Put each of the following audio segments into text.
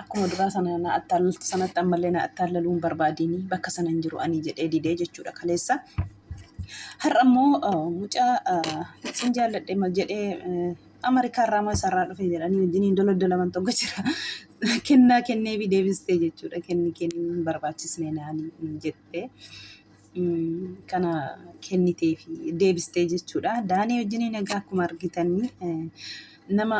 Akkuma duraa sana na attaallaltu sanatti ammallee na attaallaluu hin barbaadini bakka sana hin jiru ani jedhee didee jechuudha kaleessa. Har'a immoo mucaa sin jaalladhe mal jedhee Ameerikaa irraa moo isarraa dhufe jedhanii wajjiniin doloddolaman tokko jira. Kennaa kennee fi deebistee jechuudha kenni kenni hin barbaachisne naani jettee. kana kennitee fi deebistee jechuudha. Daanii wajjiniin egaa akkuma argitanii nama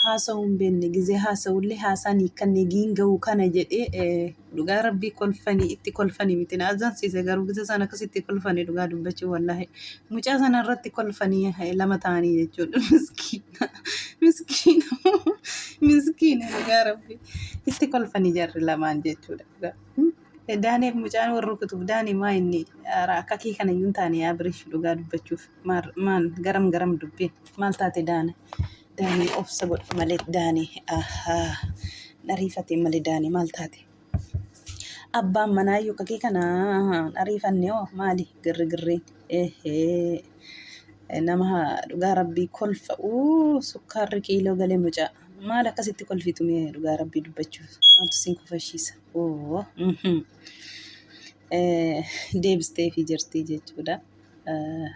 haasa'uu hin beekne gizee haasa'ullee haasaan hiikkanne giin ga'u kana jedhee dhugaa rabbii kolfanii itti kolfanii miti na azaansiise garuu gizee sana akkasitti kolfanii dhugaa dubbachuu wallaahi mucaa sana irratti kolfanii lama ta'anii jechuudha miskiina miskiina miskiina dhugaa rabbii itti kolfanii jarri lamaan jechuudha. Daaniif mucaan wal rukutuuf daani maa inni akka kee kana iyyuu hin taane yaa birish dhugaa dubbachuuf maal garam garam dubbiin maal taate daani daani obsa godhi malee daani dhariifatee malee daani maal taate abbaan manaa iyyuu kakee kana dhariifannee hoo maali girri girriin eehee nama dhugaa rabbii kolfa uu sukkaarri kiiloo galee mucaa maal akkasitti kolfitu mee dhugaa rabbii dubbachuuf maaltu siin kofashiisa. Oo, mhm. Eh, deebisteefii jirti jechuudha. Eh,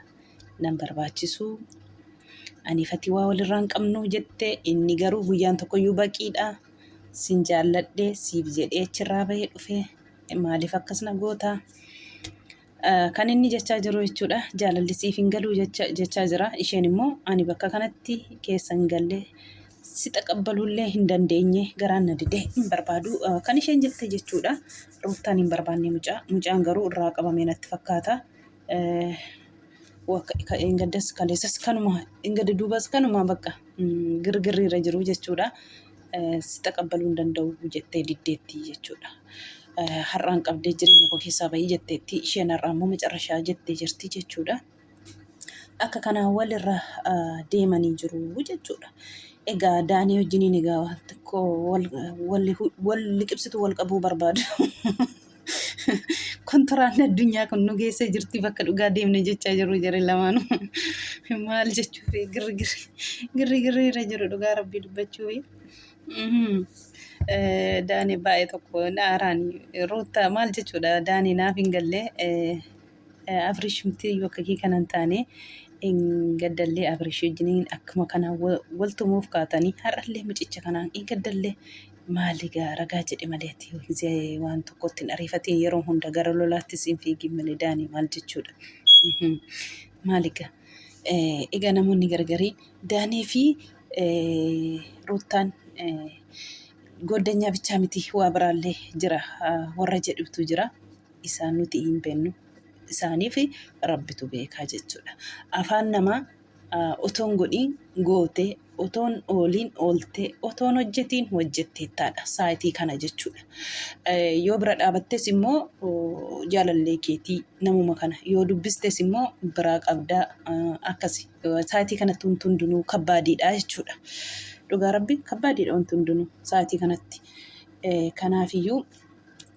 Nan barbaachisu. Ani fatii waa walirraa hin qabnu jette inni garuu guyyaan tokkoyyuu baqiidha. Sin jaalladhe siif jedhee achirraa bahee dhufe maaliif akkas na goota? Kan inni jechaa jiru jechuudha jaalalli siif hin galuu jechaa jira. Isheen immoo ani bakka kanatti keessa hin galle si taqabbaluullee hin dandeenye garaan na didee hin barbaadu kan isheen jette jechuudha. Ruuttaan hin barbaanne mucaa mucaan garuu irraa qabamee natti fakkaata. Gaddas kaleessas kanuma gadda duubas kanuma bakka girgirriirra jiru jechuudha. si taqabbaluu hin danda'u jettee diddeetti jechuudha. Har'aan qabdee jireenya koo keessaa bahii jetteetti isheen har'aa immoo macarrashaa jettee jirti jechuudha. Akka kanaa walirra deemanii jiru jechuudha. Egaa daanii wajjiniin egaa wal liqibsitu wal qabuu barbaadu. Kontoraan addunyaa kun nu geessee jirti bakka dhugaa deemne jechaa jiru jare lamaanu. Maal jechuuf girri girri girri girri irra jiru dhugaa rabbii dubbachuu. Daani baay'ee tokko naaraan ruutta maal jechuudha daani naaf hin galle. Abrish miti yoo akka kee kanan taane hin gaddallee Abrish wajjiniin akkuma kana wal tumuuf kaatanii har'allee mucicha kanaan hin gaddallee maali gaa ragaa jedhe malee ati yoo gizee waan tokkotti hin ariifatiin yeroo hunda gara lolaattis hin fiigin malee daanii maal jechuudha. Mhm. Maali gaa Eh, egaa namoonni gargarii daanii fi eh, ruuttaan eh, gooddanyaa bichaa miti waa biraallee jira ah, warra jedhutu jira. isaan nuti hin beennu isaaniif rabbitu beekaa jechuudha afaan namaa otoon godhiin gootee otoon ooliin ooltee otoon hojjetiin hojjetteettaadha saayitii kana jechuudha yoo bira dhaabattes immoo jaalallee keetii namuma kana yoo dubbistes immoo biraa qabdaa akkasi saayitii kanatti wanti hundinuu kabbaadiidha jechuudha dhugaa rabbi kabbaadiidha wanti hundinuu saayitii kanatti kanaafiyyuu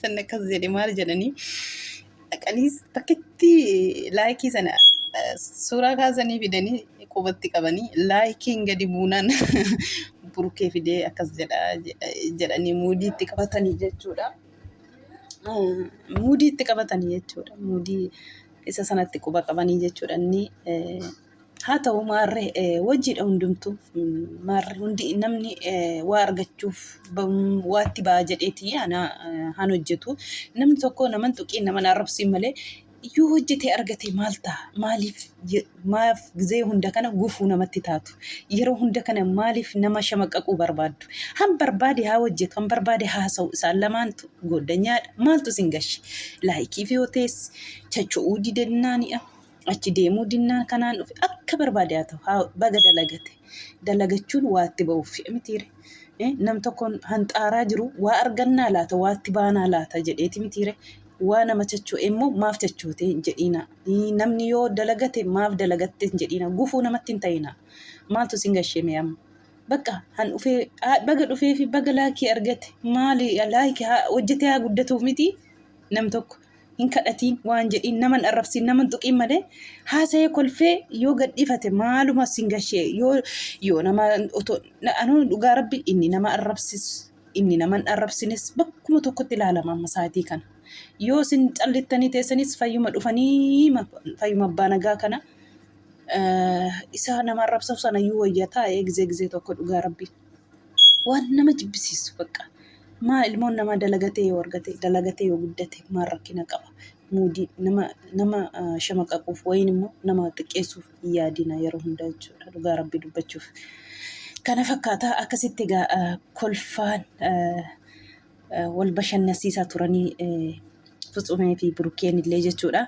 Sanni akkas jedhe maal jedhanii dhaqanii bakkitti laayikii sana suuraa kaasanii fidanii qubatti qabanii laayikiin gadi buunaan burkee fidee akkas jedha jedhanii muudii itti qabatanii jechuudha. Muudii itti qabatanii jechuudha. Muudii isa sanatti quba qabanii jechuudha. Inni Haa ta'u maarree wajjiidha hundumtuu maarri hundi namni waa argachuuf waatti ba'a jedheeti anaa han hojjetu namni tokko naman tuqiin naman arrabsiin malee yoo hojjetee argate maal ta'a maaliif maaf gizee hunda kana gufuu namatti taatu yeroo hunda kana maaliif nama shamaqqaquu barbaaddu han barbaade haa hojjetu han barbaade haasa'u isaan lamaantu gooddanyaadha maaltu isin gashi laayikii fi hotees chacho'uu didennaani'a. achi deemuu dinnaan kanaan dhufe akka barbaade haa ta'u haa baga dalagate dalagachuun waatti ba'uuf fi'a mitiire Eh, nam tokkoon hanxaaraa jiru waa argannaa laata waatti baanaa laata jedheeti mitiire waa nama chacho'e immoo maaf chachootee hin jedhiina Eh, namni yoo dalagate maaf dalagatte hin jedhiina gufuu namatti hin ta'ina maaltu sin gashee mee amma bakka han dhufee haa- baga dhufee fi baga laakii argate maali laakii haa- hojjetee haa guddatuuf miti nam tokko hin kadhatiin waan jedhiin naman arrabsiin naman tuqiin malee haasa'ee kolfee yoo gadhiifate maaluma sin gashee yoo yoo nama otoo anuu dhugaa rabbi inni nama arrabsis inni naman arrabsines bakkuma tokkotti ilaalama amma saatii kana yoo sin callittanii teessanis fayyuma dhufanii fayyuma abbaa nagaa kana isa nama arrabsaf sana iyyuu wayya taa'ee gizee gizee tokko dhugaa rabbi. Waan nama jibbisiisu bakka. Maa ilmoon namaa dalagatee yoo argate dalagatee yoo guddate maal rakkina qaba? Muudii nama nama ah, shamaqaquuf wayiin immoo nama xiqqeessuuf hin yaadina yeroo hundaa jechuudha dhugaa rabbii dubbachuuf. Kana fakkaata akkasitti egaa ah, kolfaan ah, ah, wal bashannansiisaa turanii eh, Futsumee fi Burukkeen illee jechuudha.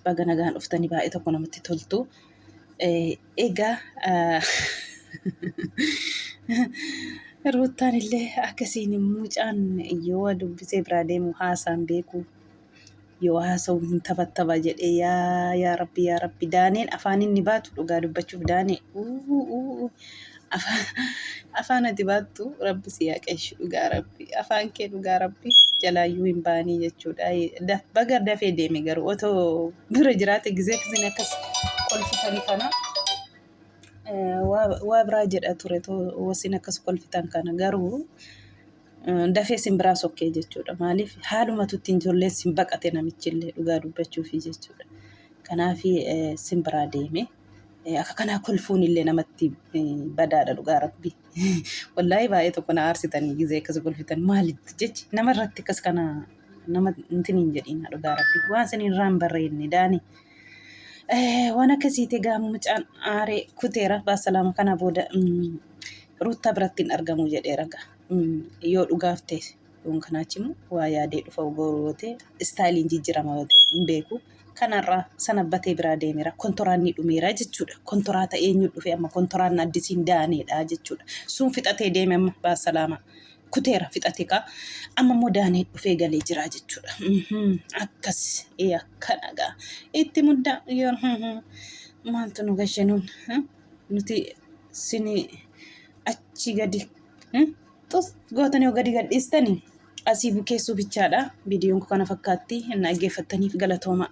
Baga nagaan dhuftanii baay'ee tokko namatti toltu. Eh, Egaa Ruuttaan illee akkasiin mucaan yoo dubbisee biraa deemu haasaan beeku yoo haasa'u hin taphattaba jedhee yaa yaa rabbi yaa rabbi daaneen afaan inni baatu dhugaa dubbachuuf daanee Afaan ati baattu rabbi si haa qeeshu dhugaa rabbi afaan kee dhugaa rabbi jalaayyuu hin baanii jechuudha. Da- Baga dafee deeme garuu otoo bira jiraate gizee kisin akkas kolfitan kana eh, waa waa biraa jedha ture too wasin akkas kolfitan kana garuu eh, dafee sin biraa sokkee jechuudha. Maaliif haaluma tuttiin ijoolleen sin baqate namichillee dhugaa dubbachuufi jechuudha. Kanaafi eh, sin biraa deeme. Akka kanaa kolfuun illee namatti badaadha dhugaa rabbi. Wallaahi baay'ee tokko na aarsitanii gizee akkas kolfitan maalitti jechi nama irratti akkas kana nama intin hin jedhiin dhugaa rabbi. Waan isin irraa hin barreenne daani. Waan akkasiiti egaa mucaan aaree kuteera baasalaama kana booda ruuttaa biratti hin argamu jedheera egaa yoo dhugaaf ta'e. Yoon kanaa achimu waa yaadee dhufa gooruu yoo ta'e istaayiliin jijjirama yoo ta'e hin beeku. Kanarraa sanabbatee biraa deemeera kontoraannii dhumeera jechuudha. Kontoraata eenyu dhufe amma kontoraanna addisiin daaneedha jechuudha. Sun fixatee deeme amma baasalaamaa. Kuteera fixate kaa amma immoo daanee dhufee galee jira jechuudha. Mhm, Akkas ee akkana gaa itti muddaa yoo mhm, maaltu nu gashe nuun eh? nuti sini achi gadi eh? Xus gootanii yoo gadi gadhiistani asii bukeessuu bichaadha. Viidiyoon koo kana fakkaatti na dhaggeeffattaniif galatoomaa.